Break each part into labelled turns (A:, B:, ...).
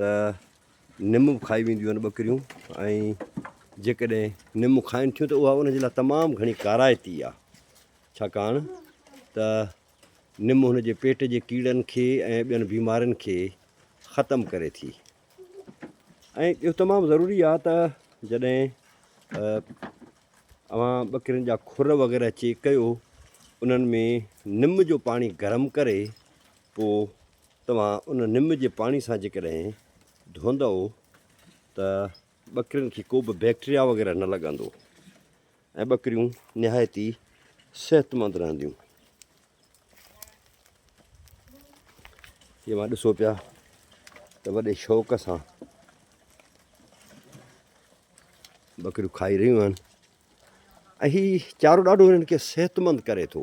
A: ته نم به کائي وينديون آهن ٻڪريون ۽ جيڪڏهن نم کائن ٿيون ته اها ان جي لاء تمام گهڻي ڪارائتي آهي ڇاڪاڻ ته نم هن جي پيٽ جي ڪيڙن کي ۽ ٻين بيمارين کي ختم ڪري ٿي ۽ ٻيو تمام ضروري آهي ته جڏهن اوهان ٻڪرين جا کر وغيره چيڪ ڪيو انهن ۾ نم جو پاڻي گرم ڪري پوء توهان ان نم جي پاڻي سان جيڪڏهن ڌوئندؤ ته ٻڪرين کي ڪوبه بيڪٽريا وغيره نه لڳندو ۽ ٻڪريون نهايت ئي صحتمند رهنديون جي مان ڏسو پيا ته وڏي شوق سان ٻڪريون کائي رهيون آهن ۽ هي چارو ڏاڍو هنن کي صحتمند ڪري ٿو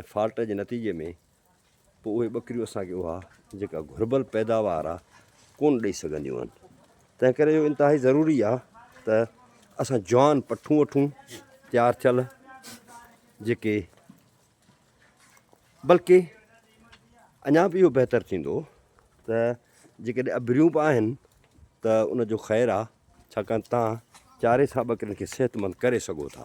A: ۽ فالٽ جي نتيجي ۾ پوء اهي ٻڪريون اسان کي اها جيڪا گهربل پيداوار آ ڪون ڏئي سگهنديون آهن تنهن ڪري اهو انتهائي ضروري آ ته اسان جوان پٺون وٺون تيار ٿيل جيڪي بلڪه اڃا به اهو بهتر ٿيندو ته جيڪڏهن ابريون به آهن ته ان جو خير آ ڇاڪاڻ تان چاري سان ٻڪرين کي صحت مند ڪري سگهو ٿا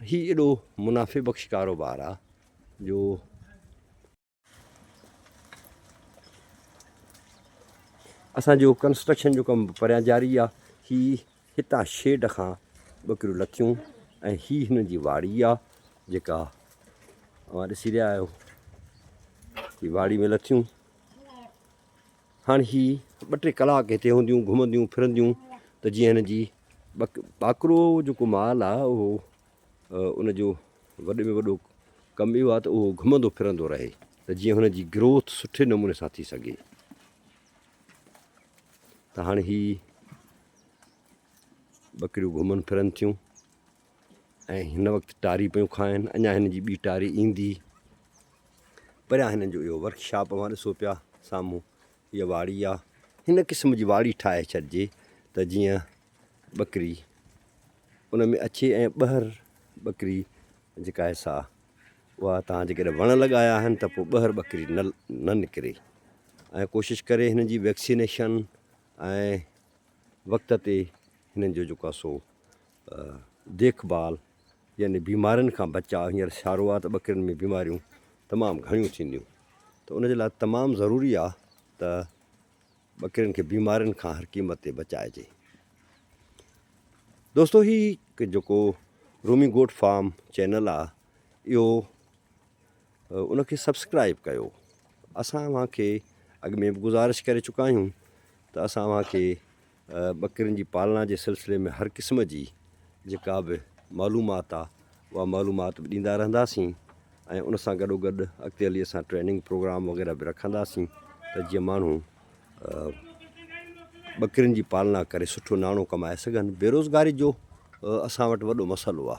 A: هي ايڏو منافع بخش ڪاروبار آ جو اسان جو ڪنسٽرڪشن جو ڪم پريان جاري آ هي هتان شيڊ کان ٻڪريون لٿيون ۽ هي هن جي واڙي آ جيڪا اوهان ڏسي رهيا آهيو هي واڙي ۾ لٿيون هاڻ هي ٻه ٽي ڪلاڪ هتي هونديون گهمنديون ڦرنديون ته جيئن هن جي ٻڪ ٻاڪرو جيڪو مال آ اهو ان جو وڏي ۾ وڏو ڪم اهو آ ته اهو گهمندو ڦرندو رهي ته جيئن هن جي گروٿ سٺي نموني سان ٿي سگهي ته هاڻ هي ٻڪريون گهمن ڦرن ٿيون ۽ هن وقت ٽاري پيون کائن اڃا هن جي ٻي ٽاري ايندي پريان هنن جو اهو ورڪ شاپ اوهان ڏسو پيا سامهون هيء واڙي آ هن قسم جي واڙي ٺاهي ڇڏجي ته جيئن ٻڪري ان ۾ اچي ۽ ٻهر ٻڪري جيڪا آهي سا اها تان جيڪڏهن وڻ لڳايا آهن ته پوء ٻهر ٻڪري نه نه نڪري ۽ ڪوشش ڪري هن جي ويڪسينيشن ۽ وقت تي هنن جو جيڪو سو ديک ڀال يعني بيمارين کان بچاء هينئر سيارو آ ته ٻڪرين ۾ بيماريون تمام گهڻيون ٿينديون ته ان جي لاء تمام ضروري آ ته ٻڪرين کي بيمارين کان هر قيمت تي بچائجي دوستو هي جيڪو رومي گوٽ فارم چينل آ اهو ان کي سبسڪرائب ڪيو اسان اوهان کي اڳ ۾ به گزارش ڪري چڪا آهيون ته اسان اوهان کي ٻڪرين جي پالڻا جي سلسلي ۾ هر قسم جي جيڪا به معلومات آ اها معلومات به ڏيندا رهنداسين ۽ ان سان گڏو گڏ اڳتي هلي اسان ٽريننگ پروگرام وغيره به رکنداسين ته جيئن ماڻهو ٻڪرين جي پالنا ڪري سٺو ناڻو ڪمائي سگهن بيروزگاري جو اسان وٽ وڏو مسئلو آ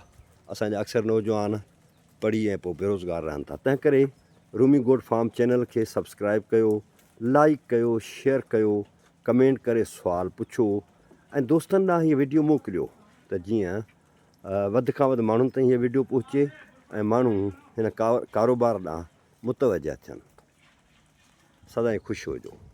A: اسانجا اڪثر نوجوان پڙهي ۽ پوء بيروزگار رهن ٿا تنهن ڪري رومي گوٽ فارم چينل کي سبسڪرائب ڪيو لائيڪ ڪيو شيئر ڪيو ڪمينٽ ڪري سوال پڇو ۽ دوستن ڏانهن هي وڊيو موڪليو ته جيئن وڌ کان وڌ ماڻهن تائين هي وڊيو پهچي ۽ ماڻهو هن ڪاروبار ڏانهن متوجه ٿين سدائين خوش هجو.